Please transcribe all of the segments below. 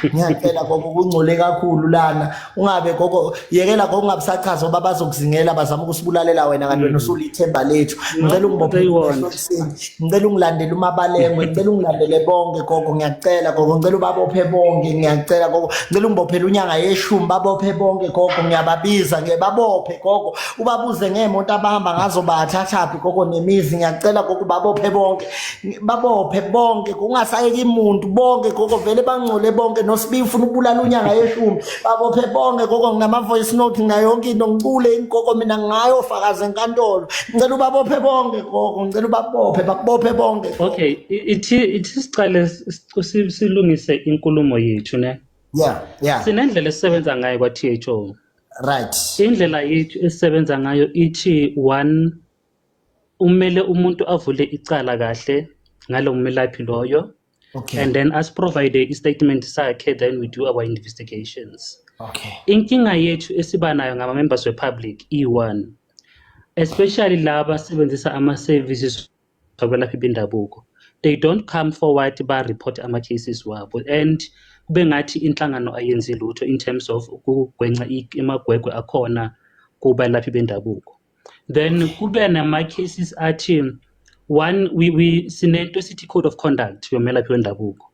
ngiyacela gogo kungcole kakhulu lana ungabe gogo yekela gogo ungabusachaza ngoba bazokuzingela bazama ukusibulalela wena kanti wena mm. usulithemba lethu ngicela ungibophe ngicela ungilandele umabalengwe ngicela ungilandele bonke gogo ngiyacela gogo ngicela ubabophe bonke ngiyacela gogo ngicela ungibophele unyanga yeshumi babophe bonke gogo ngiyababiza ngiyababophe gogo ubabuze ngeemoto abahamba ngazo bathathaphi gogo nemizi ngiyacela gogo babophe bonke babophe bonke kungasayeki muntu bonke gogo vele bangcole bonke nosibi ufuna ukubulala unyanga yeshumi babophe bonke gogo nginama-voice note ngayo yonke into ngicule ingogo mina ngayo fakazi enkantolo ngicela ubabophe bonke gogo ngicela ubabophe babophe bonke okay ithi ithi sicale silungise inkulumo yethu ne yeah yeah sinendlela esisebenza ngayo kwa-tho right indlela yethu esisebenza ngayo ithi one umele umuntu avule icala kahle ngalo melaphi loyo okay. and then asiprovide i-statement sakhe then we do our investigations okay. inkinga yethu esiba nayo ngama-members wepublic iyi-one especially laba asebenzisa ama-services akwelaphi bendabuko they don't come forward ba-report ama-cases wabo and kube ngathi inhlangano ayenzi lutho in terms of ukugwenca amagwegwe akhona kubalaphi bendabuko then kube nama cases athi one we, we sinento esithi code of conduct yomelaphi wendabuko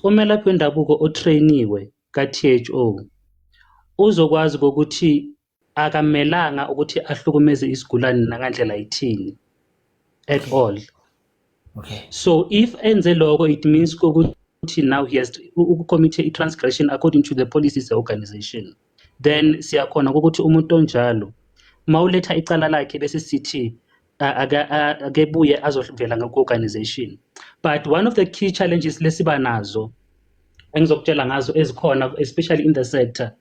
umelaphi wendabuko otrainiwe ka-THO uzokwazi ukuthi akamelanga ukuthi ahlukumeze isigulane nangandlela ithini at all okay so if enze lokho it means ukuthi now he has to ukucommit i-transgression according to the policies organization then siyakhona ukuthi umuntu onjalo mawuletha icala lakhe bese sithi akebuye azovela ngokwe-organization but one of the key challenges lesiba nazo engizokutshela ngazo ezikhona especially in the sector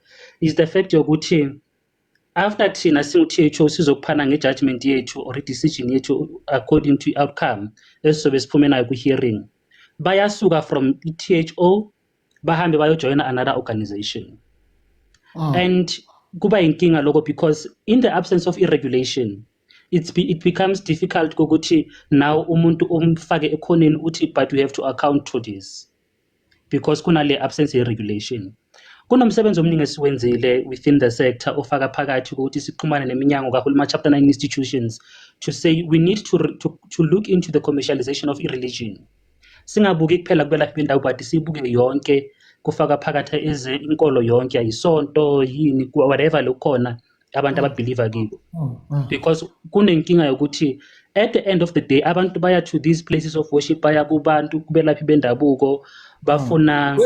is the fact yokuthi after thina singu-tho sizokuphana nge-judgment yethu or i-decision yethu according to i-outcome esizobe siphume nayo kwi-hearing bayasuka from i-tho bahambe bayojoyina another organization oh. and kuba yinkinga lokho because in the absence of i-regulation it's be, it becomes difficult kokuthi now umuntu umfake ekhoneni uthi but we have to account to this because kunale absence ye regulation Kunomsebenzi omningi esiwenzile within the sector ofaka phakathi ukuthi sixhumane neminyango kahulumeni chapter 9 institutions to say we need to, to, to look into the commercialization of ireligion singabuki kuphela kubelaphi bendawo but sibuke yonke kufaka phakathi inkolo yonke ayisonto yini whatever lokukhona abantu mm. ababhiliva kibo mm, mm. because kunenkinga yokuthi at the end of the day abantu baya to these places of worship baya kubantu kubelaphi bendabuko bafuna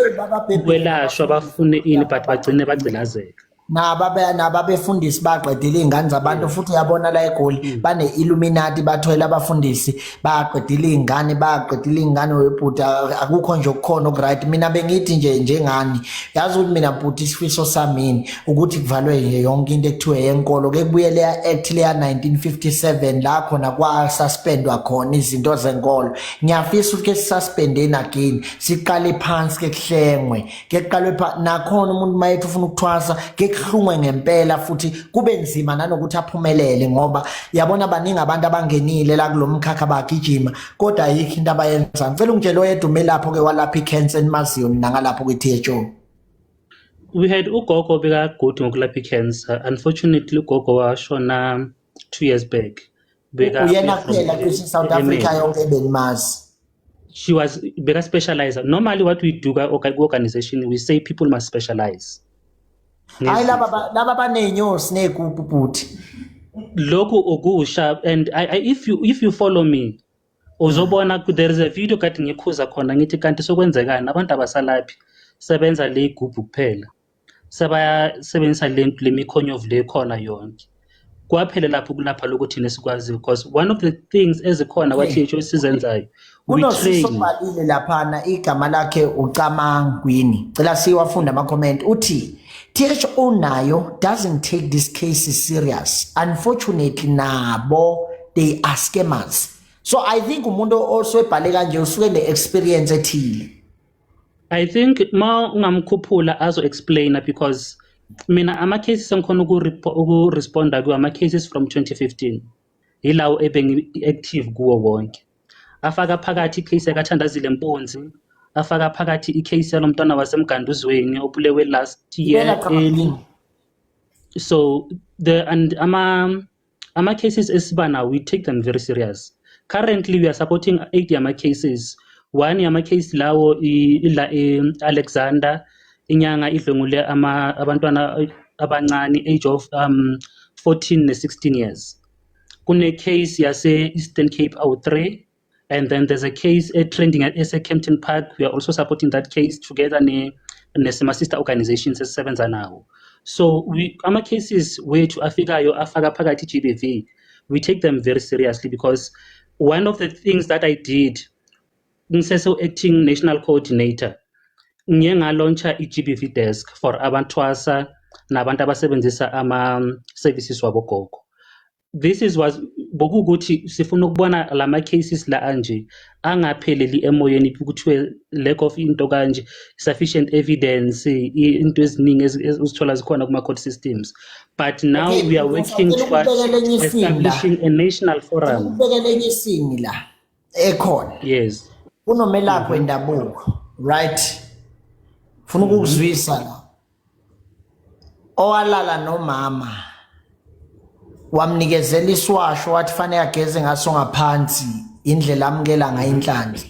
ukwelashwa bafune ini but bagcine bagcilazeka nababefundisi baqedile iy'ngane zabantu futhi uyabona la egoli bane-illuminati bathwele abafundisi bayaqedile iy'ngane bayaqedile iy'ngane webhuti akukho nje okukhona okuright mina bengithi nje njengani yazi ukuthi mina bhuti isifiso samini ukuthi kuvalwe nje yonke into ekuthiwe yenkolo kekubuye leya act leya 1957 la khona kwasuspendwa khona izinto zenkolo ngiyafisa ukuthi ke sisuspendeni again siqale phansi ke kuhlengwe ngekuqalwe pha nakhona umuntu mayethi ufuna ukuthwasa ngekuhlungwe ngempela futhi kube nzima nanokuthi aphumelele ngoba yabona baningi abantu abangenile la kulomkhakha bagijima kodwa ayikho into abayenza ngicela ungitshele oyedwa umelapho ke walapha icancer enimaziyo mina ngalapho kwi-THO we had ugogo bekagude ngokulapha icancer unfortunately ugogo washona two years back uyena kuphela cishe south africa yonke ebenimazi she was beka specializer normally what we do ku-organization we say people must specialize hayi laba baney'nyosi ney'gubhu bhuti lokhu okusha and I, I, if you if you follow me uzobona there is a video kade ngikhuza khona ngithi kanti sokwenzekani abantu abasalaphi sebenza le igubhu kuphela sebayasebenzisa le nto le mikhonyovu le khona yonke kwaphela lapho kulapha lokhu thina sikwaziyo because one of the things ezikhona kwathisho esizenzayo unosusobhalile laphana igama lakhe ucamang kwini cela siwafunda ama-comment uthi tsh unayo doesn't take this case serious unfortunately nabo they are scammers so i think umuntu osebhale kanje usuke ne-experience ethile I think ma ungamkhuphula azo explainer because mina ama cases engikhona uku responda kuwo ama cases from 2015 yilawo ebengi active kuwo wonke afaka phakathi icase yakathandazile mpunzi afaka phakathi icase yalomntwana wasemganduzweni obulewe last year early so the and ama Ama-cases esiba nawo, we take them very serious. Currently, we are supporting eight yama-cases. One yama-case lawo i- ila e-Alexander, inyanga idlwengule ama- abantwana abancane, age of um, 14 ne-16 years. Kune-case yase-Eastern Cape awu-three, And then there's a case uh, trending at SA Kempton Park. We are also supporting that case together ne, nesima sister organizations esisebenza nawo. So we, ama cases wethu afikayo afaka phakathi GBV. We take them very seriously because one of the things that I did ngisese acting national coordinator ngiye ngalauncha i-GBV desk for abanthwasa nabantu abasebenzisa ama services wabogogo. this is was bokukuthi sifuna ukubona lama cases la anje angapheleli emoyeni kuthiwe lack of into kanje sufficient evidence into eziningi uzithola zikhona kuma court systems but now okay, we are working towards establishing a national forum ubekele enye isini la ekhona yes kunomelaphi mhm. wendabuko right funa mhm. ukuzwisa la owalala nomama wamnikezela iswasho wathi fanele ageze ngaso ngaphansi indlela amukela ngayo inhlanhla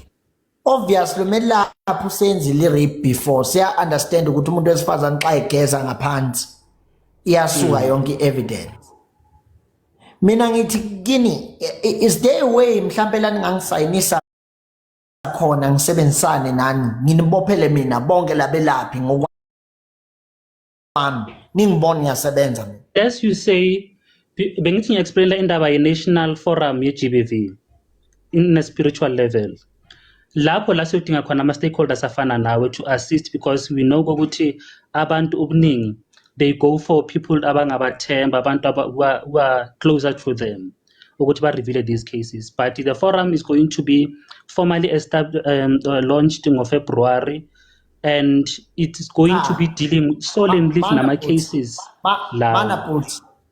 obviously umelaphi usenzile i-rape before siya understand ukuthi umuntu wesifazane xa egeza ngaphansi iyasuka mhm. yonke i-evidence mina ngithi kini is there a way mhlambe la ningangisayinisa khona ngisebenzisane nani nginibophele mina bonke labelaphi ngokwami ningibona ngiyasebenza mina as you say bengithi ngiya-explainela indaba ye-national forum ye-gbv in a spiritual level lapho la siyodinga khona ama-stakeholders afana nawe to assist because we know ukuthi abantu ubuningi they go for people abangabathemba abantu who are closer to them ukuthi ba-reveale these cases but the forum is going to be formally um, uh, launched ngofebruary and it's going ah, to be ah. dealing solely with nama-cases lawa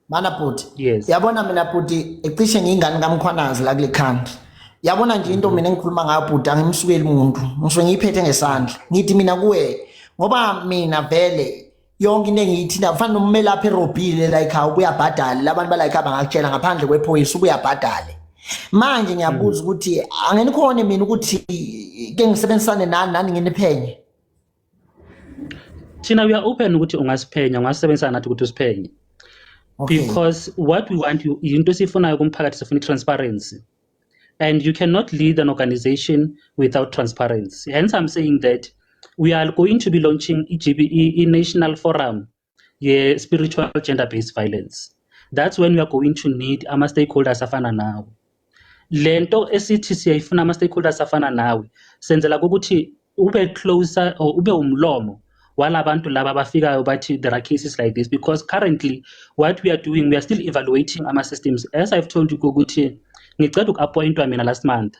mana bhuti yes. yabona mina bhuti ecishe ngiyingane kamkhwanazi la kule country yabona nje into mina engikhuluma ngayo bhuti angimsukeli muntu ngisuke ngiyiphethe ngesandla ngithi mina kuwe ngoba mina vele yonke into engiyithinta kufanele umelaphi erobhile la ekhaya ubuyabhadale labantu bala ekhaya bangakutshela ngaphandle kwephoyisa ubuyabhadale manje ngiyabuza mm. ukuthi angenikhone mina ukuthi ke ngisebenzisane nani nani nginiphenye thina we are open ukuthi ungasiphenya ungasebenzisa nathi ukuthi usiphenye okay. because what we want yinto esiyifunayo kumphakathi sifuna i-transparency and you cannot lead an organization without transparency hence i'm saying that we are going to be launching i-gbe i-national forum ye-spiritual gender based violence that's when we are going to need ama-stakeholders afana nawe le nto esithi siyayifuna ama-stakeholders afana nawe senzela ukuthi ube closer or ube umlomo walabantu laba abafikayo bathi there are cases like this because currently what we are doing we are still evaluating ama-systems as i've told you ukuthi ngiceda uku-appointwa mina last month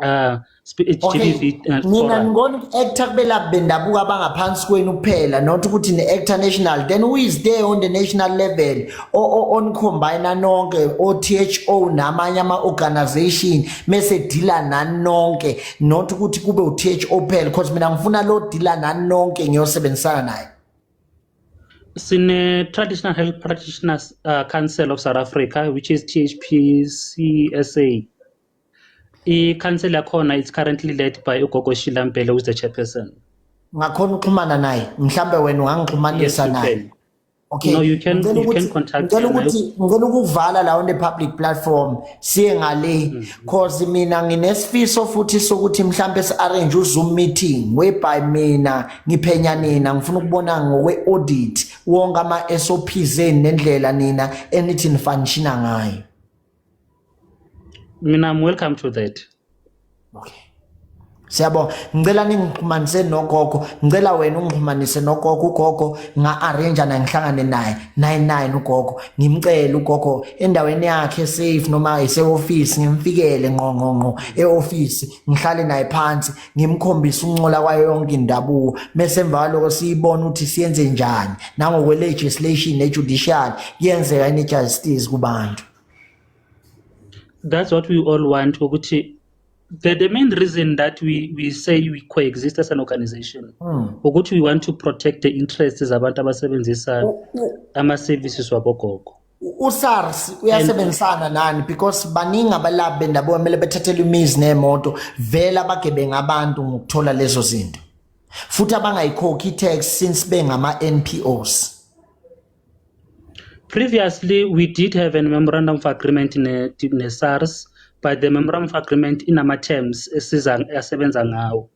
uh speech okay. TV uh, mina ngibona actor kubelaphi bendabuko abangaphansi kwenu kuphela not ukuthi ne actor national then who is there on the national level o, o on combine nonke o THO namanye ama organization mese dealer nani nonke not ukuthi kube u THO kuphela because mina ngifuna lo dealer nani nonke ngiyosebenzisana naye sine traditional health practitioners uh, council of south africa which is thpcsa I-council yakhona is currently led by uGogo Sheila Mbele who's the chairperson. ngakhona uxhumana naye mhlambe wena ungangixhumanisa Yes, you naye can. okay No, you can- Ngicela you can ukuthi- contact ngicela yena. ukuthi ngicela ukuvala la on the public platform siye ngale Mm-hmm. cause mina nginesifiso futhi sokuthi mhlambe si arrange uzoom meeting whereby mina ngiphenya nina ngifuna ukubona ngokwe audit wonke ama SOPs enu nendlela nina enithi nifanishina ngayo mina I'm welcome to that okay siyabonga ngicela ningixhumanise nogogo ngicela wena ungixhumanise nogogo ugogo nga-arrange naye ngihlangane naye naye nine ugogo ngimcele ugogo endaweni yakhe safe noma ise-ofisi ngimfikele ngqongqongqo e-ofisi ngihlale naye phansi ngimkhombisa ukuncola kwayo yonke indabuko mese emva kwaloko siyibona ukuthi siyenze njani nangokwe-legislation ne-judicial kuyenzeka yini i-justice kubantu that's what we all want ukuthi the, the main reason that we, we say we coexist as an organization hmm. ukuthi we want to protect the interests zabantu abasebenzisa ama-services wabogogo uSARS uyasebenzisana nani because baningi abalaphi bendabuko kumele bethathele imizi nemoto vele abagebenga abantu ngokuthola lezo zinto futhi abangayikhokhi i-tax since bengama-NPOs Previously we did have a memorandum of agreement ne, ne SARS but the memorandum of agreement inama terms esiza asebenza ngawo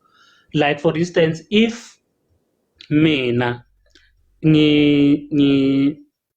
like for instance if mina ngi ngi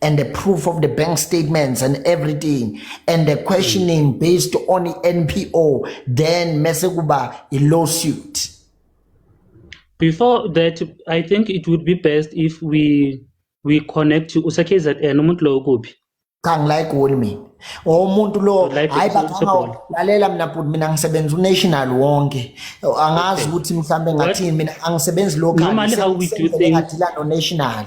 and the proof of the bank statements and everything and the questioning based on the NPO then mese kuba a lawsuit before that i think it would be best if we we connect to usekzn umuntu lowo kuphi cha ngilayigoli mina umuntu lo hayi baqhamuka lalela mina bhuti mina ngisebenza unational wonke angazi ukuthi mhlambe ngathini mina angisebenzi local noma how we do things ngadila no national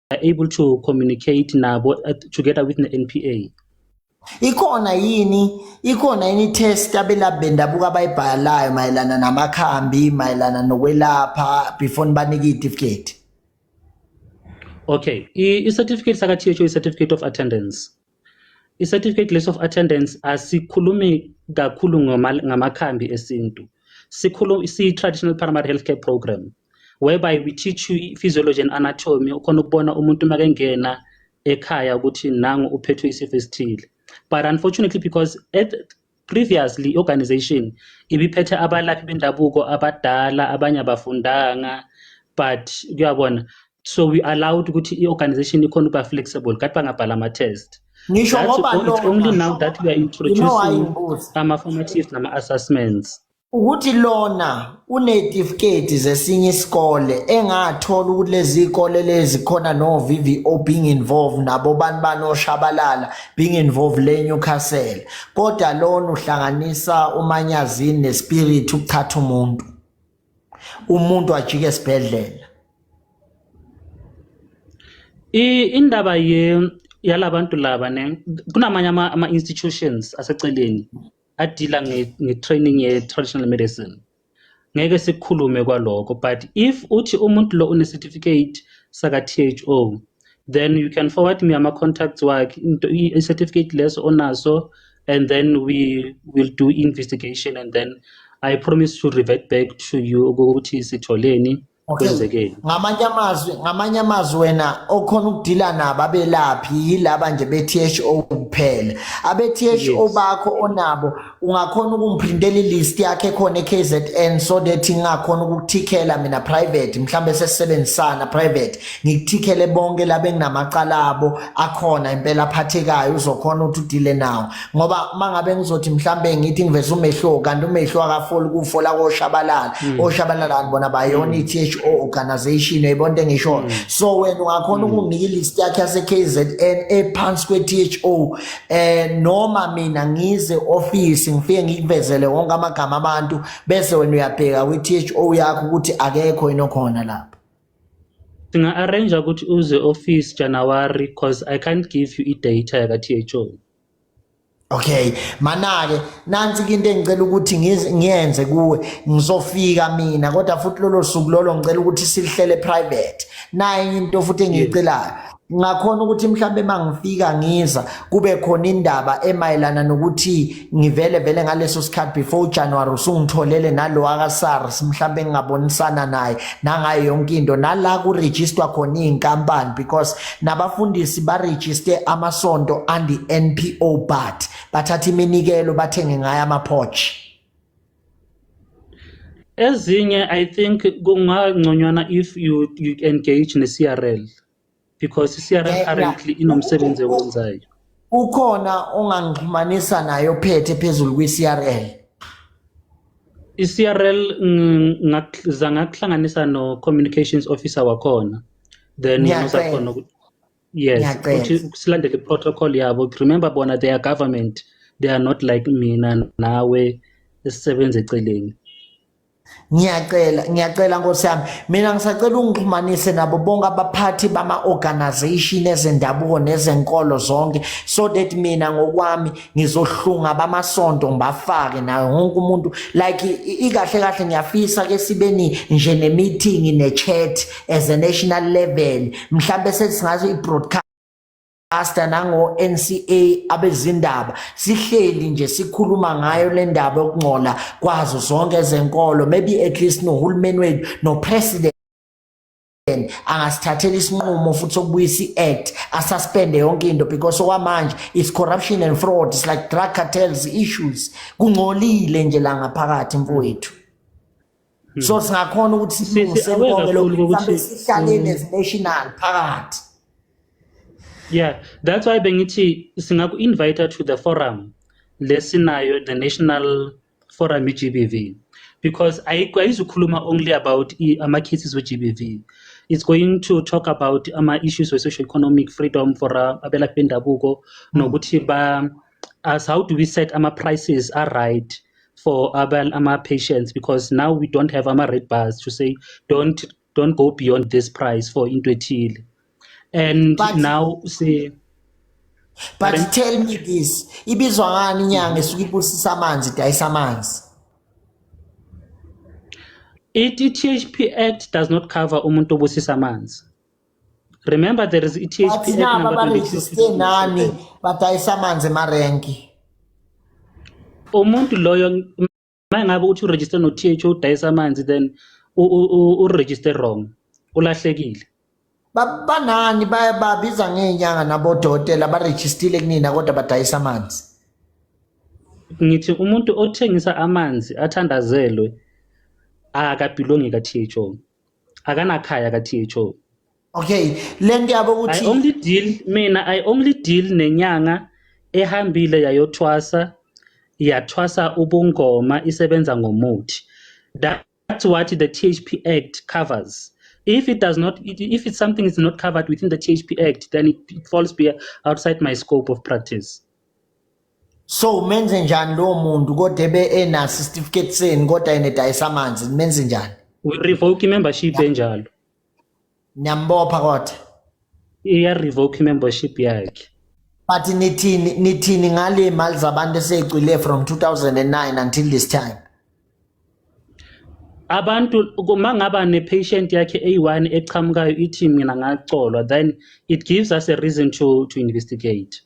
are able to communicate nabo uh, together with ne-NPA ikhona yini ikhona yini test abelaphi bendabuko abayibhalayo mayelana namakhambi mayelana nokwelapha before nibanike itifiketi okay i-certificate saka-tho i-certificate of attendance i-certificate list of attendance asikhulumi kakhulu ngamakhambi esintu sikhuluma si-traditional primary healthcare program whereby we teach you physiology and anatomy ukhona ukubona umuntu uma kengena ekhaya ukuthi nangu uphethwe isifo esithile but unfortunately because at previously organization ibiphethe abalaphi bendabuko abadala abanye abafundanga but kuyabona so we allowed ukuthi i-organization ikhona ukuba flexible kade bangabhala ama-test ngisho ngoba only now that we are introducing ama-formatives nama-assessments ukuthi lona unezitifiketi zesinye isikole engathola ukuthi lezi ikole lezi khona no VVO being involved nabo bani banoshabalala being involved le Newcastle kodwa lona uhlanganisa umanyazini nespirit ukuthatha umuntu umuntu ajike esibhedlela indaba ye yalabantu laba ne kunamanye ama, ama institutions aseceleni adila nge-training ye-traditional medicine ngeke sikhulume kwaloko but if uthi umuntu lo une-certificate saka-tho then you can forward me ama-contacts wakhe i-certificate leso onaso and then we will do investigation and then i promise to revert back to you ukuthi sitholeni kwenzekeni ngamanye amazwi ngamanye amazwi wena okhona ukudila nabo abelaphi yilaba nje be-THO kuphela abe-THO bakho onabo ungakhona ukumprintela ilist yakhe khona e-KZN so that ngingakhona ukukuthikela mina private mhlawumbe sesisebenzisana private ngikuthikele bonke laba enginamacala abo akhona impela aphathekayo uzokhona ukuthi udile nawo ngoba mangabe ngizothi mhlambe ngithi ngiveza umehluko kanti umehluko akafoli kufola koshabalala hmm. oshabalala bona bayona hmm. i-THO organization uyibona into engishoyo hmm. so wena ungakhona ukunginika ilist yakhe yase-KZN ephansi kwe-THO eh noma mina ngize office ngifike ngikuvezele wonke amagama abantu bese wena uyabheka kwi-THO yakho ukuthi akekho yini okhona lapho singa-arrange ukuthi uze office January because I can't give you i-data yaka-THO Okay manake nansi into engicela ukuthi ngiyenze kuwe ngizofika mina kodwa futhi lolo suku lolo ngicela ukuthi silihlele private naye into futhi engicelayo ngakhona ukuthi mhlambe mangifika ngiza kube khona indaba emayelana nokuthi ngivele vele ngaleso sikhathi before January usungitholele nalo aka SARS mhlambe ngingabonisana naye nangayo yonke into nala ku register khona izinkampani because nabafundisi barejiste amasonto andi NPO but bathatha iminikelo bathenge ngayo amaphochi ezinye i think kungangconywana if you, you engage ne-crl because i-crl currently inomsebenzi ewenzayo Ukhona ongangixhumanisa naye ophethe phezulu kwi-CRL? I-CRL ngiza ngakuhlanganisa no-communications officer wakhona then uzakhona ukuthi yes ukuthi silandele i-protocol yabo remember bona they are government they are not like mina nawe esisebenza eceleni ngiyacela ngiyacela nkosi yami mina ngisacela ungixhumanise nabo bonke abaphathi bama-organization ezendabuko nezenkolo zonke so that mina ngokwami ngizohlunga bamasonto ngibafake nayo wonke umuntu like ikahle kahle ngiyafisa ke sibeni nje ne-meeting ne-chat as a national level mhlawumbe sesingathi i-broadcast Asta nango NCA abezindaba sihleli nje sikhuluma ngayo le ndaba yokungcola kwazo zonke ezenkolo maybe at least nohulumeni wethu no president angasithathela isinqumo futhi sokubuyisa i-act asuspende yonke into because okwamanje it's corruption and fraud it's like drug cartels issues kungcolile nje la ngaphakathi mfowethu Hmm. so singakhona ukuthi silungise konke lokhu mhlawumbe sihlale hmm. nezinational phakathi yeah that's why bengithi singaku-invite to the forum lesinayo the national forum i-g b v because ayizukhuluma only about ama-cases we-g b v it's going to talk about ama-issues we-social economic freedom for uh, abelaphi bendabuko hmm. nokuthi ba us how do we set ama prices are right for abal ama patients because now we don't have ama red bars to say don't don't go beyond this price for into ethile and but, now say but Pardon? tell me this ibizwa ngani inyanga esuke ibusisa amanzi idayisa amanzi i-THP Act does not cover umuntu obusisa amanzi remember there is e bathi nabo abarejiste nani badayisa amanzi emarenki umuntu loyo uma ngabe uthi uregister no th udayisa amanzi then uregister wrong ulahlekile banani babiza ngeenyanga nabodokotela abarejistile kunina kodwa badayisa amanzi ngithi umuntu othengisa amanzi athandazelwe akabhilongi ka-tho akanakhaya ka THO okay lento yabo I ukuthi only deal mina I only deal nenyanga ehambile yayothwasa yathwasa ubungoma isebenza ngomuthi That- that's what the THP Act covers if it does not it- if it's something is not covered within the THP Act then it it falls be outside my scope of practice so umenze njani lowo muntu kodwa ebe enaso isitifiketi senu kodwa yena edayisa amanzi nimenze njani revoke i-membership enjalo niyambopha kodwa iya-revoke i-membership yakhe but nithini nithini ngale mali zabantu eseyicwile from 2009 until this time abantu uma ngaba ne-patient yakhe eyi-one eqhamukayo ithi mina ngacolwa then it gives us a reason to, to investigate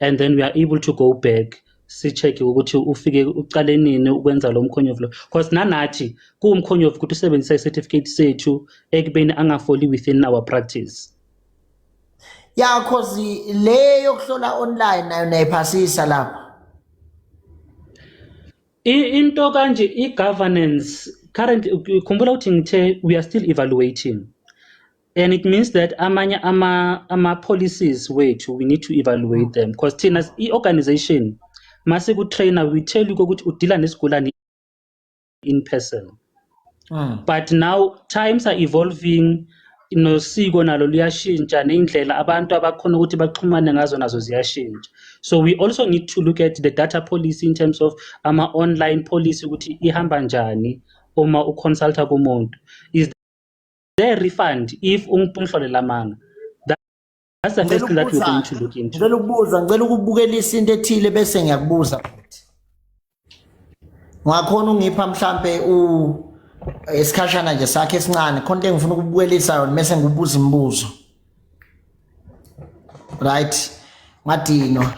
and then we are able to go back si-check-e ukuthi ufike uqale nini ukwenza lo mkhonyovu lo because nanathi kuwumkhonyovu ukuthi usebenzisa i-certificate sethu ekubeni angafoli within our practice ya cause le yokuhlola online nayo nayiphasisa lapho into kanje i-governance currently khumbula ukuthi ngithe we are still evaluating and it means that amanye ama ama policies wethu we need to evaluate them because thina i organization mase ku trainer we tell you ukuthi udila nesigulane in person mm. but now times are evolving nosiko nalo luyashintsha ney'ndlela abantu abakhona ukuthi baxhumane ngazo nazo ziyashintsha so we also need to look at the data policy in terms of ama-online policy ukuthi ihamba njani uma uconsulta kumuntu is they refund if ungipumhlole lamanga that's the first thing that we're going to look into ngicela ukubuza ngicela ukubukelisa into ethile bese ngiyakubuza futhi ngakhona ungipha mhlambe u esikhashana nje sakhe esincane khona into engifuna ukubukelisa yona bese ngibubuza imibuzo right ngadinwa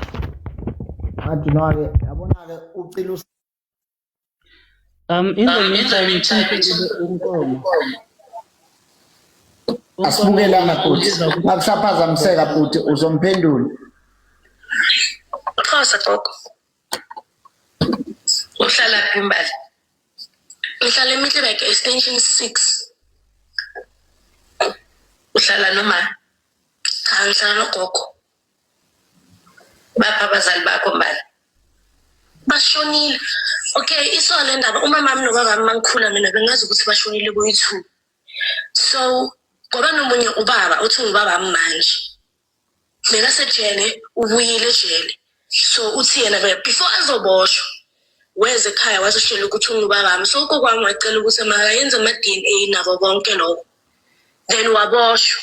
ngadinwa ke yabona ke ucila Um, in the meantime, inkomo. Asibukelanga futhi. Akusaphazamiseka futhi uzomphendula. Xhosa gogo. Uhlala phi imbali? Uhlala eMiddleburg extension 6. Uhlala noma cha ngihlala nogogo. bapha abazali bakho mbala bashonile okay isoka le ndaba umamami nobabami mangikhula mina bengazi ukuthi bashonile kuyi-two so ngoba nomunye ubaba uthi ngubabami manje bekasejele ubuyile ejele so uthi yena before azoboshwa weze ekhaya wazishela ukuthi ungubabami so ukokwami wacela ukuthi makayenze ama-d n a nabo konke lokho then waboshwa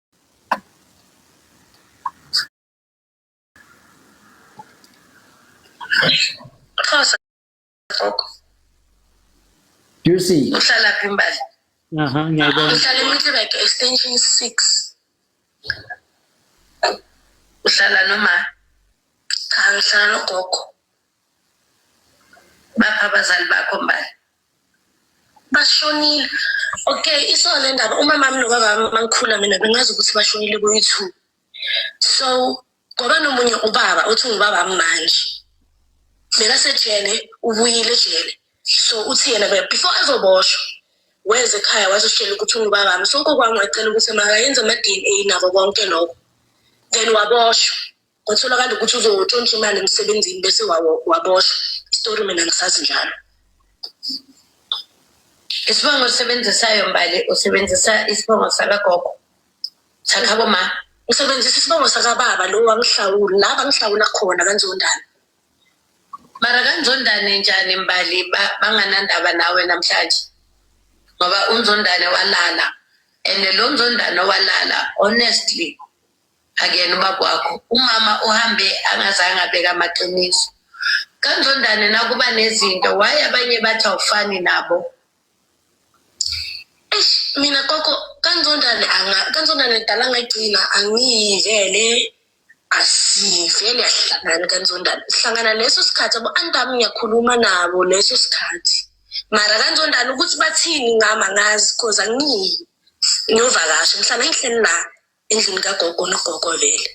Xhosa gogo Do you see? uhlala phi imbali Aha, ngiyayibona. uhlala emitleback extension six uhlala noma cha uhlala nogogo baphi abazali bakho mbali bashonile okay isona le ndaba umama wami nobaba wami mangikhula mina bengazi ukuthi bashonile kuyi-two so ngoba nomunye ubaba uthi ngubaba wami manje bekasejele ubuyile ejele so uthi yena before ezoboshwa weze ekhaya wazositshela ukuthi ungubaba wami so kokwami wacela ukuthi makayenze ama-d n a nabo konke lokho then waboshwa kwatholakala ukuthi uzotshontsha imali emsebenzini bese waboshwa isitori mina ngisazi njalo isibongo osisebenzisayo mbali usebenzisa isibongo sakagogo sakhabo ma usebenzisa isibongo sakababa lo wangihlawula la bangihlawula khona kanzondana mara kanzondane njani mbali banganandaba nawe namhlanje ngoba unzondane walala and lo nzondane walala honestly akuyena ubaba wakho umama uhambe angazange abeka amaqiniso kanjondane nakuba nezinto waye abanye bathi awufani nabo eish mina koko kanjondane anga kanjondane dala ngayigcina angiyivele asivele asihlangani kanjondane sihlangana leso sikhathi abo antami ngiyakhuluma nabo leso sikhathi mara kanjondane ukuthi bathini ngama ngazi cause angiyi ngiyovakasha mhlawumbe engihleli nabo endlini kagogo nogogo vele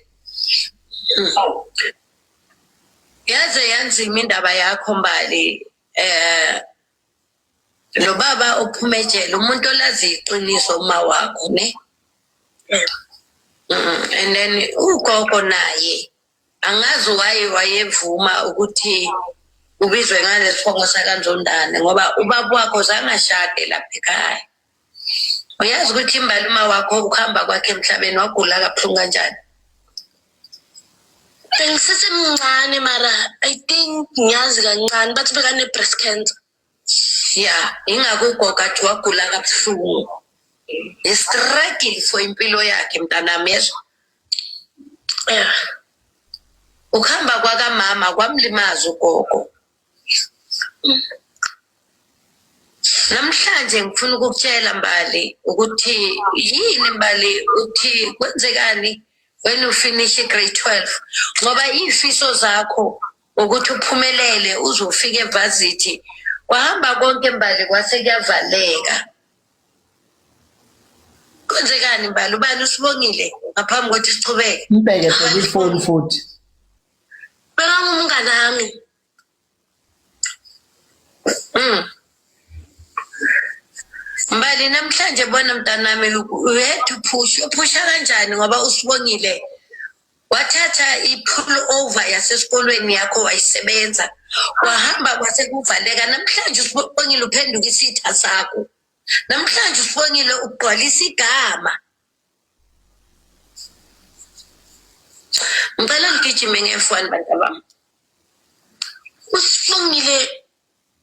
yaze yanzima indaba yakho mbali eh lo baba ophuma ejele umuntu olazi iqiniso uma wakho ne mm, and then ugogo naye angazi waye wayevuma ukuthi ubizwe ngalesifongo sakanzondane ngoba ubaba wakho zangashade lapha ekhaya uyazi ukuthi imbali uma wakho ukuhamba kwakhe emhlabeni wagula kabuhlungu kanjani bengisesemncane mara i think ngiyazi kancane bathi bekane-breast cancer ya ingakho ugogo athi wagula kabuhlungu istruggle for impilo yakhe mntanami yezwa ukuhamba kwakamama kwamlimaza ugogo Namhlanje ngifuna ukukutshela Mbali ukuthi yini Mbali uthi kwenzekani when you finish grade 12 ngoba izifiso zakho ukuthi uphumelele uzofika evarsity kwahamba konke Mbali kwase kuyavaleka kwenzekani Mbali ubani usibongile ngaphambi kokuthi sichubeke mbeke sefoni futhi Mbali namhlanje bona mntanami you had to push uphusha kanjani ngoba usibongile wathatha i-pull over yasesikolweni yakho wayisebenza wahamba kwase kuvaleka namhlanje usibongile uphenduka isitha sakho namhlanje usibongile ugqwalisa igama ngicela ngigijime ngefwani bantabami usifungile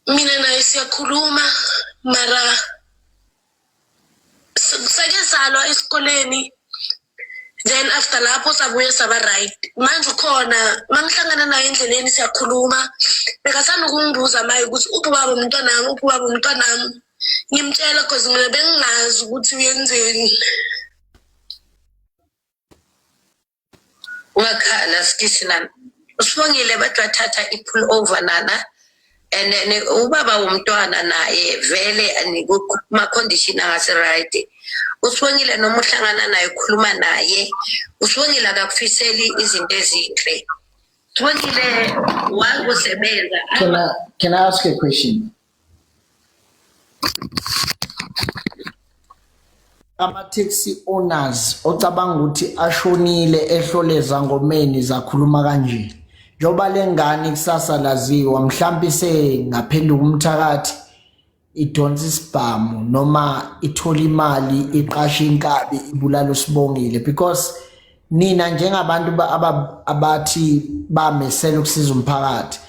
mina naye siyakhuluma mara sake salwa esikoleni then after lapho sabuye saba right manje ukhona mangihlangana naye endleleni siyakhuluma bekasanda ukungibuza maye ukuthi uphi ubaba umntwanami uphi ubaba umntwanami ngimtshela cause mina bengingazi ukuthi uyenzeni wakhala sikishi lana usibongile bathi wathatha i-pull over nana and then ubaba womntwana naye vele kuma-condition angasi-right usibongile noma uhlangana naye ukhuluma naye usibongile akakufiseli izinto ezinhle usibongile wakusebenza can I, can I ask a question Ama-taxi owners ocabanga ukuthi ashonile ehloleza ngomeni zakhuluma kanje. Njengoba le ngane ikusasa laziwa mhlawumpe isengaphenduka umthakathi idonsa isibhamu noma ithola imali iqashe inkabi ibulala usibongile because nina njengabantu abathi bamesela ukusiza umphakathi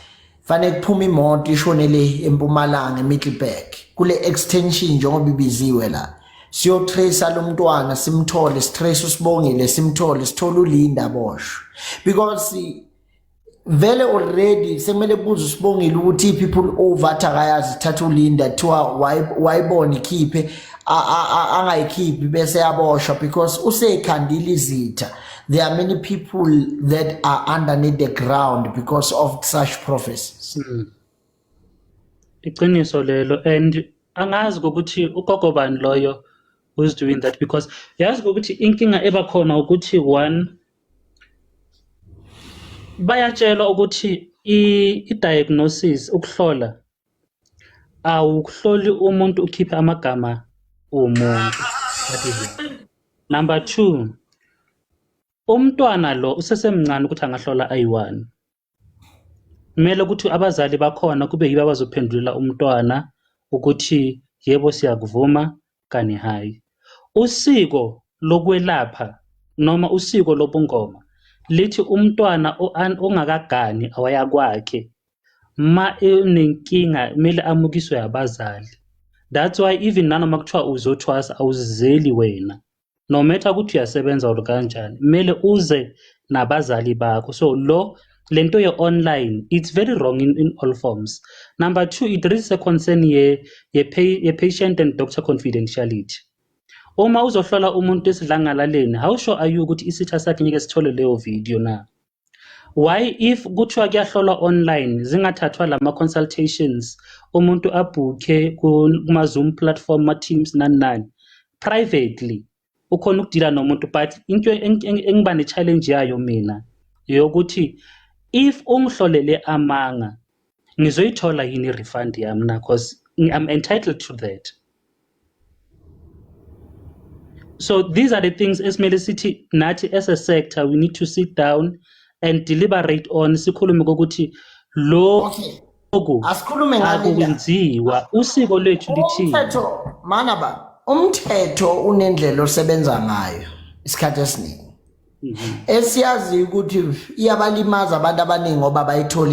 fanele kuphume imoto ishone le empumalanga emiddleburg kule extension njengoba ibiziwe la siyotracer lo mntwana simthole sitrace usibongile simthole sithole ulinda boshwe because vele already sekumele kubuze usibongile ukuthi iphi pull over athi akayazi ithatha ulinda kuthiwa wayibona ikhiphe angayikhiphi bese yaboshwa because usekhandile izitha There are many people that are underneath the ground because of such prophecies. Hmm. Iqiniso lelo and angazi ukuthi ugogo bani loyo who's doing that because yazi ukuthi inkinga eba khona ukuthi one bayatshelwa ukuthi i-diagnosis ukuhlola awukuhloli umuntu ukhiphe amagama omuntu that is one. number two umntwana lo usesemncane ukuthi angahlola ayi-one kumele ukuthi abazali bakhona kube yibo abazophendulela umntwana ukuthi yebo siyakuvuma kani hhayi. Usiko lokwelapha noma usiko lobungoma lithi umntwana ongakagani awaya kwakhe ma enenkinga kumele amukiswe abazali that's why even nanoma kuthiwa uzothwasa awuzizeli wena no matter ukuthi uyasebenza or kanjani kumele uze nabazali bakho so lo lento ye online it's very wrong in, in all forms number 2 it raises a concern ye ye, pay, ye patient and doctor confidentiality uma uzohlola umuntu esidlangalaleni how sure are you ukuthi isitha sakhe ngeke sithole leyo video na why if kuthiwa kuyahlolwa online zingathathwa lama consultations umuntu abhukhe kuma Zoom platform ma Teams nani nani privately ukhona ukudila nomuntu but into engiba ne challenge yayo mina yokuthi if ungihlolele amanga ngizoyithola yini i-refund yami na because i'm entitled to that so these are the things esimele sithi nathi as a sector we need to sit down and deliberate on sikhulume kokuthi lo okay oku asikhulume ngakwenziwa usiko lwethu lithini umthetho mana ba umthetho unendlela osebenza ngayo isikhathi esiningi mhm. esiyazi ukuthi iyabalimaza abantu abaningi ngoba bayithola